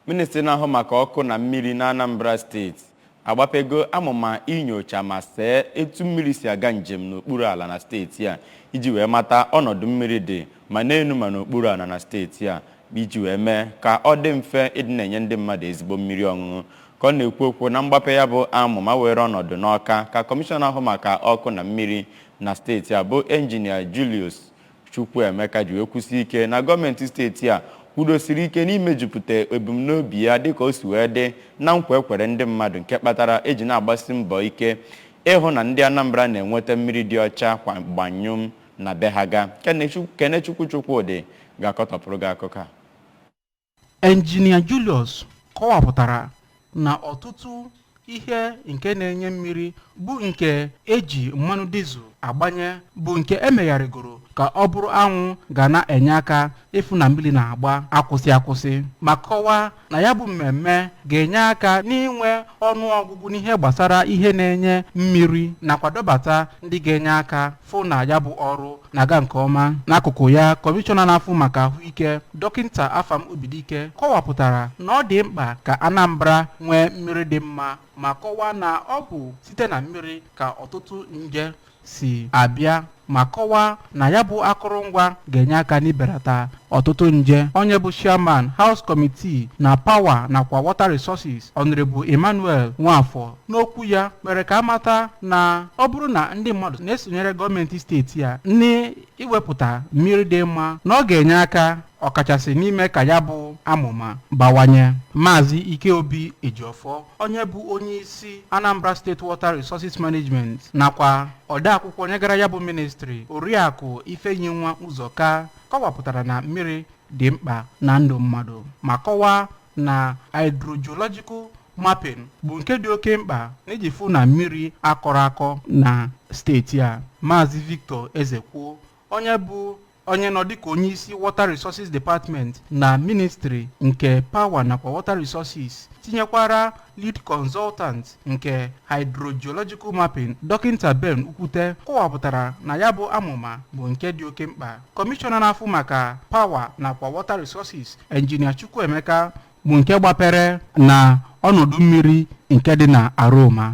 Ministri na-ahụ maka ọkụ na mmiri n'Anambra steeti agbapego amụma inyocha ma see etu mmiri si aga njem n'okpuru ala na steeti a iji wee mata ọnọdụ mmiri dị ma n'elu ma n'okpuru ala na steeti a iji wee mee ka ọ dị mfe ịdị na-enye ndị mmadụ ezigbo mmiri ọṅụṅụ ka ọ na-ekwu okwu na mgbape ya bụ amụma were ọnọdụ n'Ọka ka kọmishọna na-ahụ maka ọkụ na mmiri na steeti a bụ Engineer Julius Chukwuemeka ji wee kwusie ike na gọọmenti steeti a kwudosiri ike n'imejupụta ebumnobi ya dịka o si wee dị na nkwa e kwere ndị mmadụ nke kpatara e ji na-agbasi mbọ ike ịhụ na ndị Anambra na-enweta mmiri dị ọcha kwa gbanyụm na be ha ga. Kenechukwu Chukwudị ga-akọtọpụrụ gị akụkọ a. Engineer Julius kọwapụtara na ọtụtụ ihe nke na-enye mmiri bụ nke e ji mmanụ dizel agbanye bụ nke e megharịgoro ka ọ bụrụ anwụ ga na-enye aka ịfụ na mmiri na-agba akwụsị akwụsị ma kọwaa na ya bụ mmemme ga-enye aka n'inwe ọnụ ọgụgụ n'ihe gbasara ihe na-enye mmiri nakwa dọbata ndị ga-enye aka fụ na ya bụ ọrụ na-aga nke ọma n'akụkụ ya kọmishọna na-afụ maka ahụike dọkịta afam obidike kọwapụtara na ọ dị mkpa ka anambra nwee mmiri dị mma ma kọwaa na ọ bụ site na mmiri ka ọtụtụ nje si abịa ma kọwaa na ya bụ akụrụngwa ga-enye aka n'ibelata ọtụtụ nje onye bụ chairman house committee na power nakwa water resources honorable emmanuel nwafọ n'okwu ya mere ka a mata na ọ bụrụ na ndị mmadụ na-esonyere gọọmenti steeti a n'iwepụta mmiri dị mma na ọ ga-enye aka ọkachasị n'ime ka ya bụ amụma bawanye maazị ikeobi ejiọfọ onye bụ onye isi anambra state water resources management nakwa odeakwụkwọ nyegara ya bụ ministri oriakụ ifeyinwa ụzọka kọwapụtara na mmiri dị mkpa na ndụ mmadụ ma kọwaa na hydrogeological mapping bụ nke dị oke mkpa n'iji fụ na mmiri akọrọ akọ na steeti a maazị victor ezekwo onye bụ onye nọ dịka onye isi water resources department na ministry nke power nakwa water resources tinyekwara lead consultant nke hydrogeological mapping dọkịta ben ukwute kọwapụtara na ya bụ amụma bụ nke dị oke mkpa kọmishọna na-afụ maka power nakwa water resources engineer chukwuemeka bụ nke gbapere na ọnọdụ mmiri nke dị na aroma